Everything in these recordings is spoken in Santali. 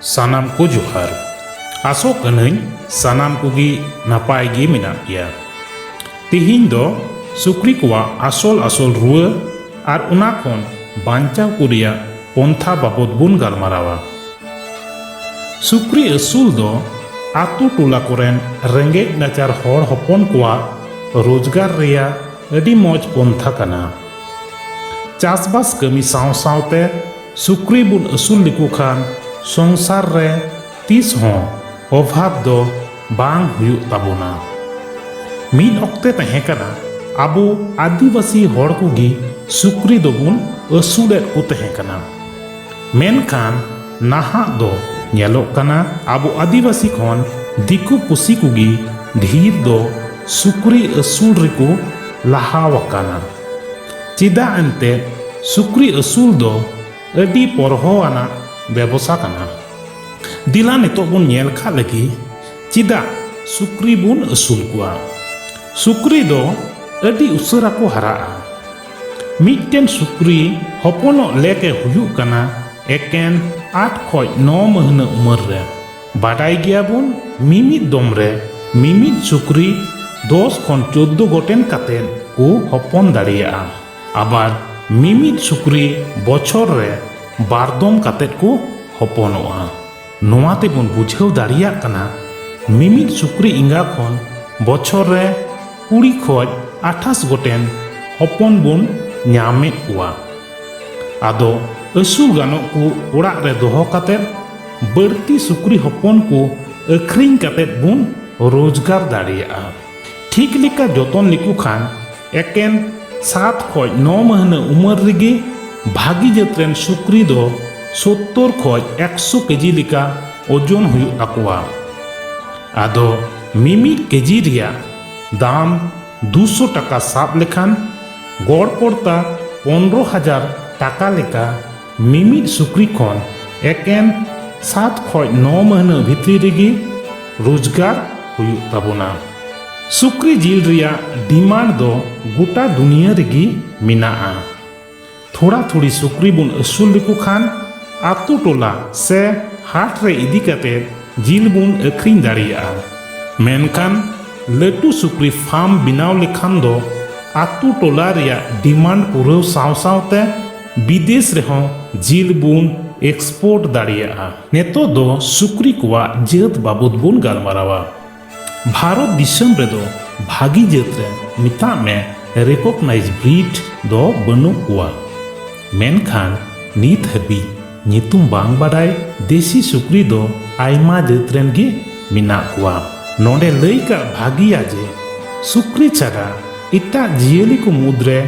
ᱥᱟᱱᱟᱢ ᱠᱚ ᱡᱚᱦᱟᱨ ᱟᱥᱚᱜ ᱠᱟᱹᱱᱟᱹᱧ ᱥᱟᱱᱟᱢ ᱠᱚᱜᱮ ᱱᱟᱯᱟᱭ ᱜᱮ ᱢᱮᱱᱟᱜ ᱯᱮᱭᱟ ᱛᱤᱦᱤᱧ ᱫᱚ ᱥᱩᱠᱨᱤ ᱠᱚᱣᱟᱜ ᱟᱥᱚᱞ ᱟᱥᱚᱞ ᱨᱩᱣᱟᱹ ᱟᱨ ᱚᱱᱟ ᱠᱷᱚᱱ ᱵᱟᱧᱪᱟᱣ ᱠᱚ ᱨᱮᱭᱟᱜ ᱯᱚᱱᱛᱷᱟ ᱵᱟᱵᱚᱫ ᱵᱚᱱ ᱜᱟᱞᱢᱟᱨᱟᱣᱟ᱾ ᱥᱩᱠᱨᱤ ᱟᱹᱥᱩᱞ ᱫᱚ ᱟᱹᱛᱩ ᱴᱚᱞᱟ ᱠᱚᱨᱮᱱ ᱨᱮᱸᱜᱮᱡ ᱱᱟᱪᱟᱨ ᱦᱚᱲ ᱦᱚᱯᱚᱱ ᱠᱚᱣᱟᱜ ᱨᱳᱡᱽᱜᱟᱨ ᱨᱮᱭᱟᱜ ᱟᱹᱰᱤ ᱢᱚᱡᱽ ᱯᱚᱱᱛᱷᱟ ᱠᱟᱱᱟ᱾ ᱪᱟᱥᱵᱟᱥ ᱠᱟᱹᱢᱤ ᱥᱟᱶ ᱥᱟᱶᱛᱮ ᱥᱩᱠᱨᱤ ᱵᱚᱱ ᱟᱹᱥᱩᱞ ᱞᱮᱠᱚ ᱠᱷᱟᱱ ᱥᱚᱝᱥᱟᱨ ᱨᱮ ᱛᱤᱥ ᱦᱚᱸ ᱚᱵᱷᱟᱵᱽ ᱫᱚ ᱵᱟᱝ ᱦᱩᱭᱩᱜ ᱛᱟᱵᱚᱱᱟ ᱢᱤᱫ ᱚᱠᱛᱮ ᱛᱟᱦᱮᱸ ᱠᱟᱱᱟ ᱟᱵᱚ ᱟᱹᱫᱤᱵᱟᱹᱥᱤ ᱦᱚᱲ ᱠᱚᱜᱮ ᱥᱩᱠᱨᱤ ᱫᱚᱵᱚᱱ ᱟᱹᱥᱩᱞᱮᱫ ᱠᱚ ᱛᱟᱦᱮᱸ ᱠᱟᱱᱟ ᱢᱮᱱᱠᱷᱟᱱ ᱱᱟᱦᱟᱜ ᱫᱚ ᱧᱮᱞᱚᱜ ᱠᱟᱱᱟ ᱟᱵᱚ ᱟᱹᱫᱤᱵᱟᱹᱥᱤ ᱠᱷᱚᱱ ᱫᱤᱠᱩ ᱯᱩᱥᱤ ᱠᱚᱜᱮ ᱰᱷᱮᱨ ᱫᱚ ᱥᱩᱠᱨᱤ ᱟᱹᱥᱩᱞ ᱨᱮᱠᱚ ᱞᱟᱦᱟ ᱟᱠᱟᱱᱟ ᱪᱮᱫᱟᱜ ᱮᱱᱛᱮᱫ ᱥᱩᱠᱨᱤ ᱟᱹᱥᱩᱞ ᱫᱚ ᱟᱹᱰᱤ ᱯᱚᱨᱦᱚ ᱟᱱᱟᱜ ᱵᱮᱵᱚᱥᱟ ᱠᱟᱱᱟ ᱫᱤᱞᱟ ᱱᱤᱛᱚᱜ ᱵᱚᱱ ᱧᱮᱞ ᱠᱟᱜ ᱞᱟᱹᱜᱤ ᱪᱮᱫᱟᱜ ᱥᱩᱠᱨᱤ ᱵᱚᱱ ᱟᱹᱥᱩᱞ ᱠᱚᱣᱟ ᱥᱩᱠᱨᱤ ᱫᱚ ᱟᱹᱰᱤ ᱩᱥᱟᱹᱨᱟ ᱠᱚ ᱦᱟᱨᱟᱜᱼᱟ ᱢᱤᱫᱴᱮᱱ ᱥᱩᱠᱨᱤ ᱦᱚᱯᱚᱱᱚᱜ ᱞᱮᱠ ᱮ ᱦᱩᱭᱩᱜ ᱠᱟᱱᱟ ᱮᱠᱮᱱ ᱟᱴ ᱠᱷᱚᱡ ᱱᱚ ᱢᱟᱹᱦᱱᱟᱹ ᱩᱢᱟᱹᱨ ᱨᱮ ᱵᱟᱰᱟᱭ ᱜᱮᱭᱟ ᱵᱚᱱ ᱢᱤᱢᱤᱫ ᱫᱚᱢ ᱨᱮ ᱢᱤᱢᱤᱫ ᱥᱩᱠᱨᱤ ᱫᱚᱥ ᱠᱷᱚᱱ ᱪᱳᱫᱽᱫᱳ ᱜᱚᱴᱮᱱ ᱠᱟᱛᱮ ᱠᱚ ᱦᱚᱯᱚᱱ ᱫᱟᱲᱮᱭᱟᱜᱼᱟ ᱟᱵᱟᱨ ᱢᱤᱢᱤᱫ ᱥᱩᱠᱨᱤ ᱵᱚᱪᱷᱚᱨ ᱨᱮ ᱵᱟᱨ ᱫᱚᱢ ᱠᱟᱛᱮ ᱠᱚ ᱦᱚᱯᱚᱱᱚᱜᱼᱟ ᱱᱚᱣᱟ ᱛᱮᱵᱚᱱ ᱵᱩᱡᱷᱟᱹᱣ ᱫᱟᱲᱮᱭᱟᱜ ᱠᱟᱱᱟ ᱢᱤᱢᱤᱫ ᱥᱩᱠᱨᱤ ᱮᱸᱜᱟ ᱠᱷᱚᱱ ᱵᱚᱪᱷᱚᱨ ᱨᱮ ᱠᱩᱲᱤ ᱠᱷᱚᱡ ᱟᱴᱷᱟᱥ ᱜᱚᱴᱮᱱ ᱦᱚᱯᱚᱱ ᱵᱚᱱ ᱧᱟᱢᱮᱫ ᱠᱚᱣᱟ ᱟᱫᱚ ᱟᱹᱥᱩᱞ ᱜᱟᱱᱚᱜ ᱠᱚ ᱚᱲᱟᱜ ᱨᱮ ᱫᱚᱦᱚ ᱠᱟᱛᱮ ᱵᱟᱹᱲᱛᱤ ᱥᱩᱠᱨᱤ ᱦᱚᱯᱚᱱ ᱠᱚ ᱟᱹᱠᱷᱨᱤᱧ ᱠᱟᱛᱮ ᱵᱚᱱ ᱨᱳᱡᱽᱜᱟᱨ ᱫᱟᱲᱮᱭᱟᱜᱼᱟ ᱴᱷᱤᱠ ᱞᱮᱠᱟ ᱡᱚᱛᱚᱱ ᱞᱮᱠᱚ ᱠᱷᱟᱱ ᱮᱠᱮᱱ ᱥᱟᱛ ᱠᱷᱚᱡ ᱱᱚ ᱢᱟᱹᱦᱱᱟᱹ ᱩᱢᱟᱹᱨ ᱨᱮᱜᱮ ᱵᱷᱟᱹᱜᱤ ᱡᱟᱹᱛ ᱨᱮᱱ ᱥᱩᱠᱨᱤ ᱫᱚ ᱥᱳᱛᱛᱚᱨ ᱠᱷᱚᱡ ᱮᱠᱥᱚ ᱠᱮᱡᱤ ᱞᱮᱠᱟ ᱳᱡᱚᱱ ᱦᱩᱭᱩᱜ ᱛᱟᱠᱚᱣᱟ ᱟᱫᱚ ᱢᱤᱢᱤᱫ ᱠᱮᱡᱤ ᱨᱮᱭᱟᱜ ᱫᱟᱢ ᱫᱩᱥᱚ ᱴᱟᱠᱟ ᱥᱟᱵ ᱞᱮᱠᱷᱟᱱ ᱜᱚᱲ ᱯᱚᱲᱛᱟ ᱯᱚᱱᱨᱚ ᱦᱟᱡᱟᱨ ᱴᱟᱠᱟ ᱞᱮᱠᱟ ᱢᱤᱢᱤᱫ ᱥᱩᱠᱨᱤ ᱠᱷᱚᱱ ᱮᱠᱮᱱ ᱥᱟᱛ ᱠᱷᱚᱡ ᱱᱚ ᱢᱟᱹᱦᱱᱟᱹ ᱵᱷᱤᱛᱨᱤ ᱨᱮᱜᱮ ᱨᱳᱡᱽᱜᱟᱨ ᱦᱩᱭᱩᱜ ᱛᱟᱵᱚᱱᱟ ᱥᱩᱠᱨᱤ ᱡᱤᱞ ᱨᱮᱭᱟᱜ ᱰᱤᱢᱟᱱᱰ ᱫᱚ ᱜᱚᱴᱟ ᱫᱩᱱᱤᱭᱟᱹ ᱨᱮᱜᱮ ᱢᱮᱱᱟᱜᱼᱟ ᱛᱷᱚᱲᱟ ᱛᱷᱚᱲᱤ ᱥᱩᱠᱨᱤ ᱵᱚᱱ ᱟᱹᱥᱩᱞ ᱞᱮᱠᱚ ᱠᱷᱟᱱ ᱟᱛᱳ ᱴᱚᱞᱟ ᱥᱮ ᱦᱟᱴ ᱨᱮ ᱤᱫᱤ ᱠᱟᱛᱮ ᱡᱤᱞ ᱵᱚᱱ ᱟᱹᱠᱷᱨᱤᱧ ᱫᱟᱲᱮᱭᱟᱜᱼᱟ ᱢᱮᱱᱠᱷᱟᱱ ᱞᱟᱹᱴᱩ ᱥᱩᱠᱨᱤ ᱯᱷᱟᱨᱢ ᱵᱮᱱᱟᱣ ᱞᱮᱠᱷᱟᱱ ᱫᱚ ᱟᱛᱳ ᱴᱚᱞᱟ ᱨᱮᱭᱟᱜ ᱰᱤᱢᱟᱱᱰ ᱯᱩᱨᱟᱹᱣ ᱥᱟᱶ ᱥᱟᱶᱛᱮ ᱵᱤᱫᱮᱥ ᱨᱮᱦᱚᱸ ᱡᱤᱞ ᱵᱚᱱ ᱮᱠᱥᱯᱳᱨᱴ ᱫᱟᱲᱮᱭᱟᱜᱼᱟ ᱱᱤᱛᱚᱜ ᱫᱚ ᱥᱩᱠᱨᱤ ᱠᱚᱣᱟᱜ ᱡᱟᱹᱛ ᱵᱟᱵᱚᱫ ᱵᱚᱱ ᱜᱟᱞᱢᱟᱨᱟᱣᱟ ᱵᱷᱟᱨᱚᱛ ᱫᱤᱥᱚᱢ ᱨᱮᱫᱚ ᱵᱷᱟᱹᱜᱤ ᱡᱟᱹᱛ ᱨᱮᱱ ᱢᱮᱛᱟᱜ ᱢᱮ ᱨᱮᱠᱚᱜᱱᱟᱭᱤᱡᱽ ᱵᱨᱤᱰ ᱫᱚ ᱵᱟᱹᱱᱩᱜ ᱠᱚᱣᱟ ᱢᱮᱱᱠᱷᱟᱱ ᱱᱤᱛ ᱦᱟᱹᱵᱤᱡ ᱧᱩᱛᱩᱢ ᱵᱟᱝ ᱵᱟᱰᱟᱭ ᱫᱮᱥᱤ ᱥᱩᱠᱨᱤ ᱫᱚ ᱟᱭᱢᱟ ᱡᱟᱹᱛ ᱨᱮᱱ ᱜᱮ ᱢᱮᱱᱟᱜ ᱠᱚᱣᱟ ᱱᱚᱰᱮ ᱞᱟᱹᱭ ᱠᱟᱜ ᱵᱷᱟᱹᱜᱤᱭᱟ ᱡᱮ ᱥᱩᱠᱨᱤ ᱪᱷᱟᱰᱟ ᱮᱴᱟᱜ ᱡᱤᱭᱟᱹᱞᱤ ᱠᱚ ᱢᱩᱫᱽᱨᱮ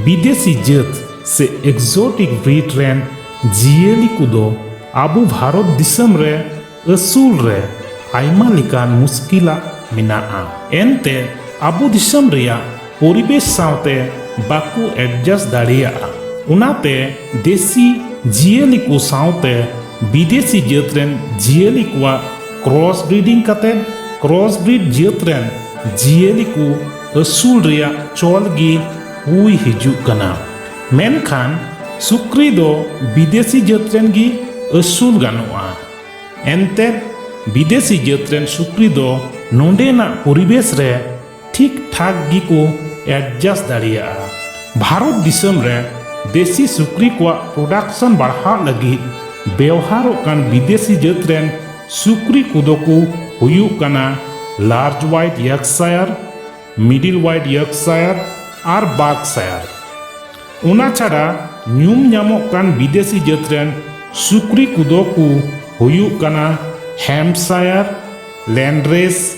ᱵᱤᱫᱮᱥᱤ ᱡᱟᱹᱛ ᱥᱮ ᱮᱠᱥᱳᱴᱤᱠ ᱵᱨᱤᱰ ᱨᱮᱱ ᱡᱤᱭᱟᱹᱞᱤ ᱠᱚᱫᱚ ᱟᱵᱚ ᱵᱷᱟᱨᱚᱛ ᱫᱤᱥᱚᱢ ᱨᱮ ᱟᱹᱥᱩᱞ ᱨᱮ ᱟᱭᱢᱟ ᱞᱮᱠᱟᱱ ᱢᱩᱥᱠᱤᱞᱟᱜ ᱢᱮᱱᱟᱜᱼᱟ ᱮᱱᱛᱮ ᱟᱵᱚ ᱫᱤᱥᱚᱢ ᱨᱮᱭᱟᱜ ᱯᱚᱨᱤᱵᱮᱥ ᱥᱟᱶᱛᱮ ᱵᱟᱠᱚ ᱮᱰᱡᱟᱥᱴ ᱫᱟᱲᱮᱭᱟᱜᱼᱟ ᱚᱱᱟᱛᱮ ᱫᱮᱥᱤ ᱡᱤᱭᱟᱹᱞᱤ ᱠᱚ ᱥᱟᱶᱛᱮ ᱵᱤᱫᱮᱥᱤ ᱡᱟᱹᱛ ᱨᱮᱱ ᱡᱤᱭᱟᱹᱞᱤ ᱠᱚᱣᱟᱜ ᱠᱨᱚᱥ ᱵᱨᱤᱰᱤᱝ ᱠᱟᱛᱮ ᱠᱨᱚᱥ ᱵᱨᱤᱰ ᱡᱟᱹᱛ ᱨᱮᱱ ᱡᱤᱭᱟᱹᱞᱤ ᱠᱚ ᱟᱹᱥᱩᱞ ᱨᱮᱭᱟᱜ ᱪᱚᱞ ᱜᱮ ᱦᱩᱭ ᱦᱤᱡᱩᱜ ᱠᱟᱱᱟ ᱢᱮᱱᱠᱷᱟᱱ ᱥᱩᱠᱨᱤ ᱫᱚ ᱵᱤᱫᱮᱥᱤ ᱡᱟᱹᱛ ᱨᱮᱱ ᱜᱮ ᱟᱹᱥᱩᱞ ᱜᱟᱱᱚᱜᱼᱟ ᱮᱱᱛᱮ ᱵᱤᱫᱮᱥᱤ ᱡᱟᱹᱛ ᱨᱮᱱ ᱥᱩᱠᱨᱤ ᱫᱚ ᱱᱚᱰᱮᱱᱟᱜ ᱯᱚᱨᱤᱵᱮᱥ ᱨᱮ ᱴᱷᱤᱠ ᱴᱷᱟᱠ ᱜᱮᱠᱚ ᱮᱰᱡᱟᱥ ᱫᱟᱲᱮᱭᱟᱜᱼᱟ ᱵᱷᱟᱨᱚᱛ ᱫᱤᱥᱚᱢ ᱨᱮ ᱫᱮᱥᱤ ᱥᱩᱠᱨᱤ ᱠᱚᱣᱟᱜ ᱯᱨᱚᱰᱟᱠᱥᱚᱱ ᱵᱟᱲᱦᱟᱜ ᱞᱟᱹᱜᱤᱫ ᱵᱮᱣᱦᱟᱨᱚᱜ ᱠᱟᱱ ᱵᱤᱫᱮᱥᱤ ᱡᱟᱹᱛ ᱨᱮᱱ ᱥᱩᱠᱨᱤ ᱠᱚᱫᱚ ᱠᱚ ᱦᱩᱭᱩᱜ ᱠᱟᱱᱟ large white Yorkshire, middle white Yorkshire ᱟᱨ ᱵᱟᱨᱠᱥᱟᱭᱟᱨ᱾ ᱚᱱᱟ ᱪᱷᱟᱰᱟ ᱧᱩᱢ ᱧᱟᱢᱚᱜ ᱠᱟᱱ ᱵᱤᱫᱮᱥᱤ ᱡᱟᱹᱛ ᱨᱮᱱ ᱥᱩᱠᱨᱤ ᱠᱚᱫᱚ ᱠᱚ ᱦᱩᱭᱩᱜ ᱠᱟᱱᱟ ᱦᱮᱢᱯᱥᱟᱭᱟᱨ, ᱞᱮᱱᱰᱨᱮᱥ,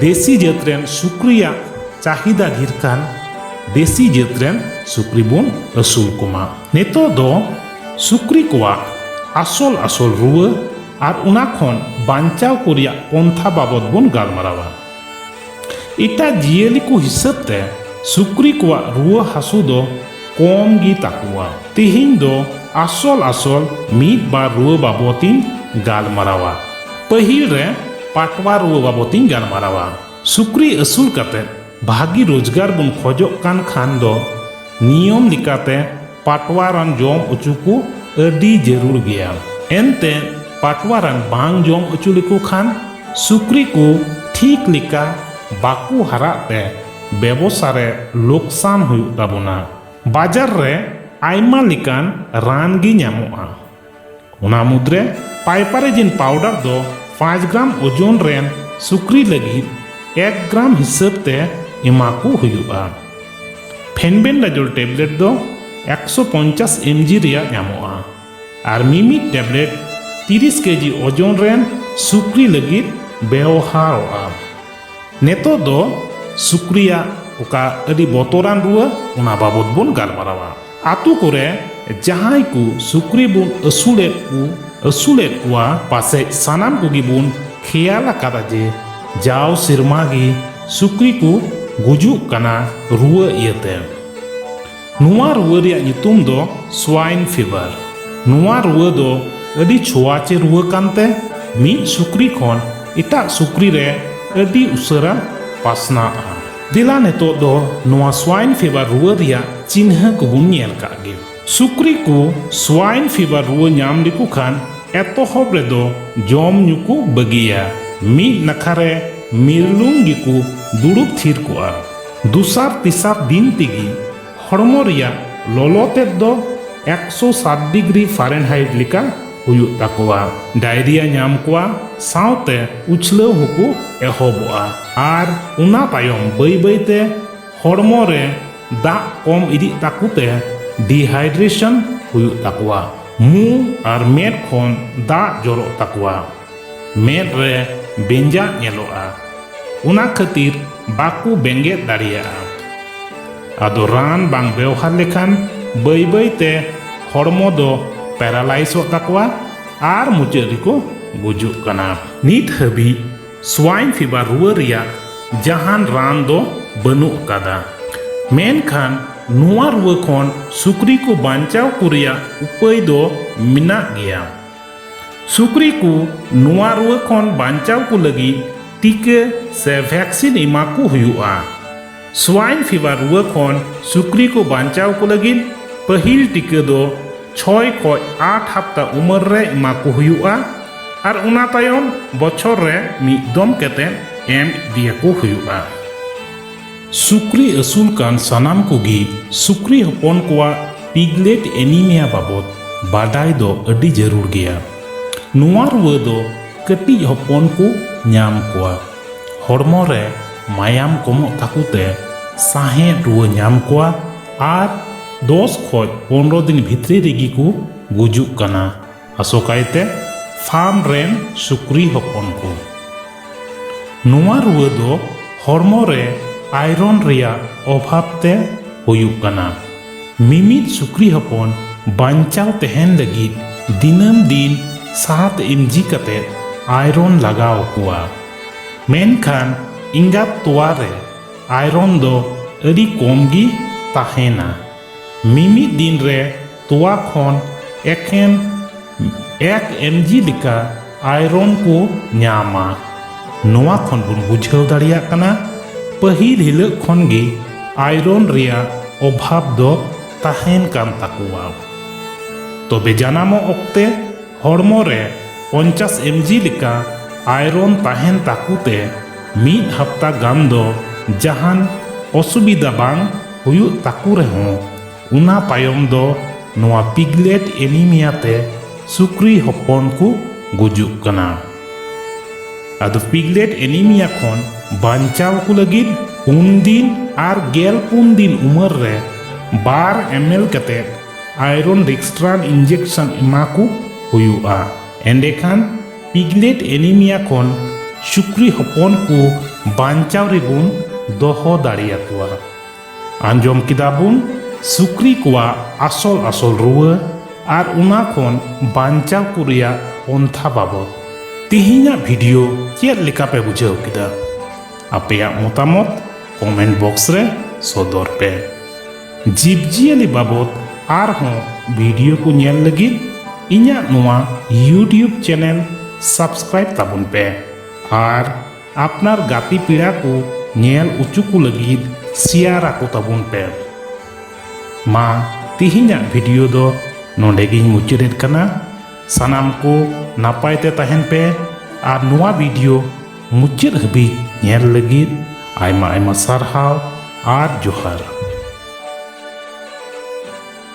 ᱫᱮᱥᱤ ᱡᱟᱹᱛ ᱨᱮᱱ ᱥᱩᱠᱨᱤᱭᱟᱜ ᱪᱟᱦᱤᱫᱟ ᱰᱷᱮᱨ ᱠᱟᱱ ᱫᱮᱥᱤ ᱡᱟᱹᱛ ᱨᱮᱱ ᱥᱩᱠᱨᱤ ᱵᱚᱱ ᱟᱹᱥᱩᱞ ᱠᱚᱢᱟ ᱱᱤᱛᱚᱜ ᱫᱚ ᱥᱩᱠᱨᱤ ᱠᱚᱣᱟᱜ ᱟᱥᱚᱞ ᱟᱥᱚᱞ ᱨᱩᱣᱟᱹ ᱟᱨ ᱚᱱᱟ ᱠᱷᱚᱱ ᱵᱟᱧᱪᱟᱣ ᱠᱚ ᱨᱮᱭᱟᱜ ᱯᱚᱱᱛᱷᱟ ᱵᱟᱵᱚᱫ ᱵᱚᱱ ᱜᱟᱞᱢᱟᱨᱟᱣᱟ ᱮᱴᱟᱜ ᱡᱤᱭᱟᱹᱞᱤ ᱠᱚ ᱦᱤᱥᱟᱹᱵ ᱛᱮ ᱥᱩᱠᱨᱤ ᱠᱚᱣᱟᱜ ᱨᱩᱣᱟᱹ ᱦᱟᱹᱥᱩ ᱫᱚ ᱠᱚᱢ ᱜᱮ ᱛᱟᱠᱚᱣᱟ ᱛᱤᱦᱤᱧ ᱫᱚ ᱟᱥᱚᱞ ᱟᱥᱚᱞ ᱢᱤᱫ ᱵᱟᱨ ᱨᱩᱣᱟᱹ ᱵᱟᱵᱚᱛ ᱤᱧ ᱜᱟᱞᱢᱟᱨᱟᱣᱟ ᱯᱟᱹᱦᱤᱞ ᱨᱮ ᱯᱟᱴᱣᱟ ᱨᱩᱣᱟᱹ ᱵᱟᱵᱚᱛ ᱤᱧ ᱜᱟᱞᱢᱟᱨᱟᱣᱟ ᱥᱩᱠᱨᱤ ᱟᱹᱥᱩᱞ ᱠᱟᱛᱮ ᱵᱷᱟᱹᱜᱤ ᱨᱳᱡᱽᱜᱟᱨ ᱵᱚᱱ ᱠᱷᱚᱡᱚᱜ ᱠᱟᱱ ᱠᱷᱟᱱ ᱫᱚ ᱱᱤᱭᱚᱢ ᱞᱮᱠᱟᱛᱮ ᱯᱟᱴᱣᱟ ᱨᱟᱱ ᱡᱚᱢ ᱚᱪᱚ ᱠᱚ ᱟᱹᱰᱤ ᱡᱟᱹᱨᱩᱲ ᱜᱮᱭᱟ ᱮᱱᱛᱮ ᱯᱟᱴᱣᱟ ᱨᱟᱱ ᱵᱟᱝ ᱡᱚᱢ ᱚᱪᱚ ᱞᱮᱠᱚ ᱠᱷᱟᱱ ᱥᱩᱠᱨᱤ ᱠᱚ ᱴᱷᱤᱠ ᱞᱮᱠᱟ ᱵᱟᱠᱚ ᱦᱟᱨᱟᱜ ᱛᱮ ᱵᱮᱵᱚᱥᱟ ᱨᱮ ᱞᱚᱠᱥᱟᱱ ᱦᱩᱭᱩᱜ ᱛᱟᱵᱚᱱᱟ ᱵᱟᱡᱟᱨ ᱨᱮ ᱟᱭᱢᱟ ᱞᱮᱠᱟᱱ ᱨᱟᱱ ᱜᱮ ᱧᱟᱢᱚᱜᱼᱟ ᱚᱱᱟ ᱢᱩᱫᱽᱨᱮ ᱯᱟᱭᱯᱟᱨᱮᱡᱤᱱ ᱯᱟᱣᱰᱟᱨ ᱫᱚ ᱯᱟᱸᱪ ᱜᱨᱟᱢ ᱳᱡᱚᱱ ᱨᱮᱱ ᱥᱩᱠᱨᱤ ᱞᱟᱹᱜᱤᱫ ᱮᱠ ᱜᱨᱟᱢ ᱦᱤᱥᱟᱹᱵ ᱛᱮ ᱮᱢᱟ ᱠᱚ ᱦᱩᱭᱩᱜᱼᱟ ᱯᱷᱮᱱᱵᱮᱱᱰᱟᱡᱚᱞ ᱴᱮᱵᱞᱮᱴ ᱫᱚ ᱮᱠᱥᱚ ᱯᱚᱧᱪᱟᱥ ᱮᱢ ᱡᱤ ᱨᱮᱭᱟᱜ ᱧᱟᱢᱚᱜᱼᱟ ᱟᱨ ᱢᱤᱢᱤᱫ ᱴᱮᱵᱞᱮᱴ 30 ᱠᱮᱡᱤ ᱳᱡᱚᱱ ᱨᱮᱱ ᱥᱩᱠᱨᱤ ᱞᱟᱹᱜᱤᱫ ᱵᱮᱣᱦᱟᱨᱚᱜᱼᱟ ᱱᱤᱛᱚᱜ ᱫᱚ ᱥᱩᱠᱨᱤᱭᱟᱜ ᱚᱠᱟ ᱟᱹᱰᱤ ᱵᱚᱛᱚᱨᱟᱱ ᱨᱩᱣᱟᱹ ᱚᱱᱟ ᱵᱟᱵᱚᱫ ᱵᱚᱱ ᱜᱟᱞᱢᱟᱨᱟᱣᱟ ᱟᱛᱳ ᱠᱚᱨᱮ ᱡᱟᱦᱟᱸᱭ ᱠᱚ ᱥᱩᱠᱨᱤ ᱵᱚᱱ ᱟᱹᱥᱩᱞᱮᱫ ᱠᱚ ᱟᱹᱥᱩᱞᱮᱫ ᱠᱚᱣᱟ ᱯᱟᱥᱮᱡ ᱥᱟᱱᱟᱢ ᱠᱚᱜᱮ ᱵᱚᱱ ᱠᱷᱮᱭᱟᱞ ᱟᱠᱟᱫᱟ ᱡᱮ ᱡᱟᱣ ᱥᱮᱨᱢᱟ ᱜᱮ ᱥᱩᱠᱨᱤ ᱠᱚ ᱜᱩᱡᱩᱜ ᱠᱟᱱᱟ ᱨᱩᱣᱟᱹ ᱤᱭᱟᱹᱛᱮ ᱱᱚᱣᱟ ᱨᱩᱣᱟᱹ ᱨᱮᱭᱟᱜ ᱧᱩᱛᱩᱢ ᱫᱚ ᱥᱣᱟᱭᱤᱱ ᱯᱷᱤᱵᱷᱟᱨ ᱱᱚᱣᱟ ᱨᱩᱣᱟᱹ ᱫᱚ ᱟᱹᱰᱤ ᱪᱷᱳᱣᱟᱪᱮ ᱨᱩᱣᱟᱹ ᱠᱟᱱᱛᱮ ᱢᱤᱫ ᱥᱩᱠᱨᱤ ᱠᱷᱚᱱ ᱮᱴᱟᱜ ᱥᱩᱠᱨᱤ ᱨᱮ ᱟᱹᱰᱤ ᱩᱥᱟᱹᱨᱟ ᱯᱟᱥᱱᱟᱜᱼᱟ ᱫᱮᱞᱟ ᱱᱤᱛᱚᱜ ᱫᱚ ᱱᱚᱣᱟ ᱥᱣᱟᱭᱤᱱ ᱯᱷᱤᱵᱷᱟᱨ ᱨᱩᱣᱟᱹ ᱨᱮᱭᱟᱜ ᱪᱤᱱᱦᱟᱹ ᱠᱚᱵᱚᱱ ᱧᱮᱞ ᱠᱟᱜ ᱜᱮ ᱥᱩᱠᱨᱤ ᱠᱚ ᱥᱣᱟᱭᱤᱱ ᱯᱷᱤᱵᱷᱟᱨ ᱨᱩᱣᱟᱹ ᱧᱟᱢ ᱞᱮᱠᱚ ᱠᱷᱟᱱ ᱮᱛᱚᱦᱚᱵ ᱨᱮᱫᱚ ᱡᱚᱢ ᱧᱩ ᱠᱚ ᱵᱟᱹᱜᱤᱭᱟ ᱢᱤᱫ ᱱᱟᱠᱷᱟ ᱨᱮ ᱢᱤᱨᱞᱩᱝ ᱜᱮᱠᱚ ᱫᱩᱲᱩᱵ ᱛᱷᱤᱨ ᱠᱚᱜᱼᱟ ᱫᱩᱥᱟᱨ ᱛᱤᱥᱟᱨ ᱫᱤᱱ ᱛᱮᱜᱮ ᱦᱚᱲᱢᱚ ᱨᱮᱭᱟᱜ ᱞᱚᱞᱚ ᱛᱮᱫ ᱫᱚ ᱮᱠᱥᱚ ᱥᱟᱛ ᱰᱤᱜᱽᱨᱤ ᱯᱷᱟᱨᱮᱱᱦᱟᱭᱤᱴ ᱞᱮᱠᱟ ᱦᱩᱭᱩᱜ ᱛᱟᱠᱚᱣᱟ ᱰᱟᱭᱨᱤᱭᱟ ᱧᱟᱢ ᱠᱚᱣᱟ ᱥᱟᱶᱛᱮ ᱩᱪᱷᱞᱟᱹᱣ ᱦᱚᱸᱠᱚ ᱮᱦᱚᱵᱚᱜᱼᱟ ᱟᱨ ᱚᱱᱟ ᱛᱟᱭᱚᱢ ᱵᱟᱹᱭ ᱵᱟᱹᱭᱛᱮ ᱦᱚᱲᱢᱚ ᱨᱮ ᱫᱟᱜ ᱠᱚᱢ ᱤᱫᱤᱜ ᱛᱟᱠᱚ ᱛᱮ ᱰᱤᱦᱟᱭᱰᱨᱮᱥᱚᱱ ᱦᱩᱭᱩᱜ ᱛᱟᱠᱚᱣᱟ ᱢᱩ ᱟᱨ ᱢᱮᱫ ᱠᱷᱚᱱ ᱫᱟᱜ ᱡᱚᱨᱚᱜ ᱛᱟᱠᱚᱣᱟ ᱢᱮᱫ ᱨᱮ ᱵᱮᱸᱡᱟᱜ ᱧᱮᱞᱚᱜᱼᱟ ᱚᱱᱟ ᱠᱷᱟᱹᱛᱤᱨ ᱵᱟᱠᱚ ᱵᱮᱸᱜᱮᱫ ᱫᱟᱲᱮᱭᱟᱜᱼᱟ ᱟᱫᱚ ᱨᱟᱱ ᱵᱟᱝ ᱵᱮᱣᱦᱟᱨ ᱞᱮᱠᱷᱟᱱ ᱵᱟᱹᱭ ᱵᱟᱹᱭ ᱛᱮ ᱦᱚᱲᱢᱚ ᱫᱚ ᱯᱮᱨᱟᱞᱟᱭᱤᱥᱚᱜ ᱛᱟᱠᱚᱣᱟ ᱟᱨ ᱢᱩᱪᱟᱹᱫ ᱨᱮᱠᱚ ᱜᱩᱡᱩᱜ ᱠᱟᱱᱟ ᱱᱤᱛ ᱦᱟᱹᱵᱤᱡ ᱥᱣᱟᱭᱤᱱ ᱯᱷᱤᱵᱟᱨ ᱨᱩᱣᱟᱹ ᱨᱮᱭᱟᱜ ᱡᱟᱦᱟᱱ ᱨᱟᱱ ᱫᱚ ᱵᱟᱹᱱᱩᱜ ᱟᱠᱟᱫᱟ ᱢᱮᱱᱠᱷᱟᱱ ᱱᱚᱣᱟ ᱨᱩᱣᱟᱹ ᱠᱷᱚᱱ ᱥᱩᱠᱨᱤ ᱠᱚ ᱵᱟᱧᱪᱟᱣ ᱠᱚ ᱨᱮᱭᱟᱜ ᱩᱯᱟᱹᱭ ᱫᱚ ᱢᱮᱱᱟᱜ ᱜᱮᱭᱟ ᱥᱩᱠᱨᱤ ᱠᱚ ᱱᱚᱣᱟ ᱨᱩᱣᱟᱹ ᱠᱷᱚᱱ ᱵᱟᱧᱪᱟᱣ ᱠᱚ ᱞᱟᱹᱜᱤᱫ ᱴᱤᱠᱟᱹ ᱥᱮ ᱵᱷᱮᱠᱥᱤᱱ ᱮᱢᱟ ᱠᱚ ᱦᱩᱭᱩᱜᱼᱟ ᱥᱣᱟᱭᱤᱱ ᱯᱷᱤᱵᱟᱨ ᱨᱩᱣᱟᱹ ᱠᱷᱚᱱ ᱥᱩᱠᱨᱤ ᱠᱚ ᱵᱟᱧᱪᱟᱣ ᱠᱚ ᱞᱟᱹᱜᱤᱫ ᱯᱟᱹᱦᱤᱞ ᱴᱤᱠᱟᱹ ᱫᱚ ᱪᱷᱚᱭ ᱠᱷᱚᱱ ᱟᱴ ᱦᱟᱯᱛᱟ ᱩᱢᱮᱨ ᱨᱮ ᱮᱢᱟ ᱠᱚ ᱦᱩᱭᱩᱜᱼᱟ ᱟᱨ ᱚᱱᱟ ᱛᱟᱭᱚᱢ ᱵᱚᱪᱷᱚᱨ ᱨᱮ ᱢᱤᱫ ᱫᱚᱢ ᱠᱟᱛᱮ ᱮᱢ ᱤᱫᱤᱭᱟᱠᱚ ᱦᱩᱭᱩᱜᱼᱟ ᱥᱩᱠᱨᱤ ᱟᱹᱥᱩᱞ ᱠᱟᱱ ᱥᱟᱱᱟᱢ ᱠᱚᱜᱮ ᱥᱩᱠᱨᱤ ᱦᱚᱯᱚᱱ ᱠᱚᱣᱟᱜ ᱯᱤᱜᱞᱮᱴ ᱮᱱᱤᱢᱤᱭᱟ ᱵᱟᱵᱚᱫ ᱵᱟᱰᱟᱭ ᱫᱚ ᱟᱹᱰᱤ ᱡᱟᱹᱨᱩᱲ ᱜᱮᱭᱟ ᱱᱚᱣᱟ ᱨᱩᱣᱟᱹ ᱫᱚ ᱠᱟᱹᱴᱤᱡ ᱦᱚᱯᱚᱱ ᱠᱚ ᱧᱟᱢ ᱠᱚᱣᱟ ᱦᱚᱲᱢᱚ ᱨᱮ ᱢᱟᱭᱟᱢ ᱠᱚᱢᱚᱜ ᱛᱟᱠᱚ ᱛᱮ ᱥᱟᱦᱮᱸᱫ ᱨᱩᱣᱟᱹ ᱧᱟᱢ ᱠᱚᱣᱟ ᱟᱨ ᱫᱚᱥ ᱠᱷᱚᱱ ᱯᱚᱱᱨᱚ ᱫᱤᱱ ᱵᱷᱤᱛᱨᱤ ᱨᱮᱜᱮ ᱠᱚ ᱜᱩᱡᱩᱜ ᱠᱟᱱᱟ ᱟᱥᱚᱠᱟᱭᱛᱮ ᱯᱷᱟᱨᱢ ᱨᱮᱱ ᱥᱩᱠᱨᱤ ᱦᱚᱯᱚᱱ ᱠᱚ ᱱᱚᱣᱟ ᱨᱩᱣᱟᱹ ᱫᱚ ᱦᱚᱲᱢᱚ ᱨᱮ ᱟᱭᱨᱚᱱ ᱨᱮᱭᱟᱜ ᱚᱵᱷᱟᱵᱽ ᱛᱮ ᱦᱩᱭᱩᱜ ᱠᱟᱱᱟ ᱢᱤᱢᱤᱫ ᱥᱩᱠᱨᱤ ᱦᱚᱯᱚᱱ ᱵᱟᱧᱪᱟᱣ ᱛᱟᱦᱮᱱ ᱞᱟᱹᱜᱤᱫ ᱫᱤᱱᱟᱹᱢ ᱫᱤᱱ ᱥᱟᱛ ᱮᱢᱡᱤ ᱠᱟᱛᱮ ᱟᱭᱨᱚᱱ ᱞᱟᱜᱟᱣ ᱠᱚᱣᱟ ᱢᱮᱱᱠᱷᱟᱱ ᱮᱸᱜᱟᱛ ᱛᱚᱣᱟ ᱨᱮ ᱟᱭᱨᱚᱱ ᱫᱚ ᱟᱹᱰᱤ ᱠᱚᱢ ᱜᱮ ᱛᱟᱦᱮᱱᱟ ᱢᱤᱢᱤᱫ ᱫᱤᱱ ᱨᱮ ᱛᱚᱣᱟ ᱠᱷᱚᱱ ᱮᱠᱷᱮᱱ ᱮᱠ ᱮᱢᱡᱤ ᱞᱮᱠᱟ ᱟᱭᱨᱚᱱ ᱠᱚ ᱧᱟᱢᱟ ᱱᱚᱣᱟ ᱠᱷᱚᱱ ᱵᱚᱱ ᱵᱩᱡᱷᱟᱹᱣ ᱫᱟᱲᱮᱭᱟᱜ ᱠᱟᱱᱟ ᱯᱟᱹᱦᱤᱞ ᱦᱤᱞᱟᱹᱜ ᱠᱷᱚᱱ ᱜᱮ ᱟᱭᱨᱚᱱ ᱨᱮᱭᱟᱜ ᱚᱵᱷᱟᱵᱽ ᱫᱚ ᱛᱟᱦᱮᱱ ᱠᱟᱱ ᱛᱟᱠᱚᱣᱟ ᱛᱚᱵᱮ ᱡᱟᱱᱟᱢᱚᱜ ᱚᱠᱛᱮ ᱦᱚᱲᱢᱚ ᱨᱮ ᱯᱚᱧᱪᱟᱥ ᱮᱢᱡᱤ ᱞᱮᱠᱟ ᱟᱭᱨᱚᱱ ᱛᱟᱦᱮᱸᱱ ᱛᱟᱠᱚ ᱛᱮ ᱢᱤᱫ ᱦᱟᱯᱛᱟ ᱜᱟᱱ ᱫᱚ ᱡᱟᱦᱟᱸᱱ ᱚᱥᱩᱵᱤᱫᱷᱟ ᱵᱟᱝ ᱦᱩᱭᱩᱜ ᱛᱟᱠᱚ ᱨᱮᱦᱚᱸ ᱚᱱᱟ ᱛᱟᱭᱚᱢ ᱫᱚ ᱱᱚᱣᱟ ᱯᱤᱜᱽᱞᱮᱴ ᱮᱱᱤᱢᱤᱭᱟ ᱛᱮ ᱥᱩᱠᱨᱤ ᱦᱚᱯᱚᱱ ᱠᱚ ᱜᱩᱡᱩᱜ ᱠᱟᱱᱟ᱾ ᱟᱫᱚ ᱯᱤᱜᱽᱞᱮᱴ ᱮᱱᱤᱢᱤᱭᱟ ᱠᱷᱚᱱ ᱵᱟᱧᱪᱟᱣ ᱠᱚ ᱞᱟᱹᱜᱤᱫ ᱯᱩᱱ ᱫᱤᱱ ᱟᱨ ᱜᱮᱞ ᱯᱩᱱ ᱫᱤᱱ ᱩᱢᱟᱹᱨ ᱨᱮ ᱵᱟᱨ ᱮᱢᱮᱞ ᱠᱟᱛᱮ ᱟᱭᱨᱚᱱ ᱨᱤᱠᱥᱴᱨᱟᱱ ᱤᱱᱡᱮᱠᱥᱚᱱ ᱮᱢᱟ ᱠᱚ ᱦᱩᱭᱩᱜᱼᱟ ᱮᱸᱰᱮᱠᱷᱟᱱ ᱯᱤᱜᱞᱮᱴ ᱮᱱᱤᱢᱤᱭᱟ ᱠᱷᱚᱱ ᱥᱩᱠᱨᱤ ᱦᱚᱯᱚᱱ ᱠᱚ ᱵᱟᱧᱪᱟᱣ ᱨᱮᱵᱚᱱ ᱫᱚᱦᱚ ᱫᱟᱲᱮᱭᱟᱠᱚᱣᱟ ᱟᱸᱡᱚᱢ ᱠᱮᱫᱟ ᱵᱚᱱ ᱥᱩᱠᱨᱤ ᱠᱚᱣᱟᱜ ᱟᱥᱚᱞ ᱟᱥᱚᱞ ᱨᱩᱣᱟᱹ ᱟᱨ ᱚᱱᱟ ᱠᱷᱚᱱ ᱵᱟᱧᱪᱟᱣ ᱠᱚ ᱨᱮᱭᱟᱜ ᱯᱚᱱᱛᱷᱟ ᱵᱟᱵᱚᱫ ᱛᱮᱦᱮᱧᱟᱜ ᱵᱷᱤᱰᱤᱭᱳ ᱪᱮᱫ ᱞᱮᱠᱟ ᱯᱮ ᱵᱩᱡᱷᱟᱹᱣ ᱠᱮᱫᱟ ᱟᱯᱮᱭᱟᱜ ᱢᱚᱛᱟᱢᱚᱛ ᱠᱚᱢᱮᱱᱴ ᱵᱚᱠᱥ ᱨᱮ ᱥᱚᱫᱚᱨ ᱯᱮ ᱡᱤᱵᱽᱡᱤᱭᱟᱹᱞᱤ ᱵᱟᱵᱚᱛ ᱟᱨᱦᱚᱸ ᱵᱷᱤᱰᱤᱭᱳ ᱠᱚ ᱧᱮᱞ ᱞᱟᱹᱜᱤᱫ ᱤᱧᱟᱹᱜ ᱱᱚᱣᱟ ᱤᱭᱩᱴᱤᱭᱩᱵᱽ ᱪᱮᱱᱮᱞ ᱥᱟᱵᱥᱠᱨᱟᱭᱤᱵᱽ ᱛᱟᱵᱚᱱ ᱯᱮ ᱟᱨ ᱟᱯᱱᱟᱨ ᱜᱟᱛᱮ ᱯᱮᱲᱟ ᱠᱚ ᱧᱮᱞ ᱚᱪᱚ ᱠᱚ ᱞᱟᱹᱜᱤᱫ ᱥᱮᱭᱟᱨ ᱟᱠᱚ ᱛᱟᱵᱚᱱ ᱯᱮ ᱢᱟ ᱛᱮᱦᱮᱧᱟᱜ ᱵᱷᱤᱰᱤᱭᱳ ᱫᱚ ᱱᱚᱰᱮ ᱜᱤᱧ ᱢᱩᱪᱟᱹᱫᱮᱫ ᱠᱟᱱᱟ ᱥᱟᱱᱟᱢ ᱠᱚ ᱱᱟᱯᱟᱭ ᱛᱮ ᱛᱟᱦᱮᱱ ᱯᱮ ᱟᱨ ᱱᱚᱣᱟ ᱵᱷᱤᱰᱤᱭᱳ ᱢᱩᱪᱟᱹᱫ ᱦᱟᱹᱵᱤᱡ ᱧᱮᱞ ᱞᱟᱹᱜᱤᱫ ᱟᱭᱢᱟ ᱟᱭᱢᱟ ᱥᱟᱨᱦᱟᱣ ᱟᱨ ᱡᱚᱦᱟᱨ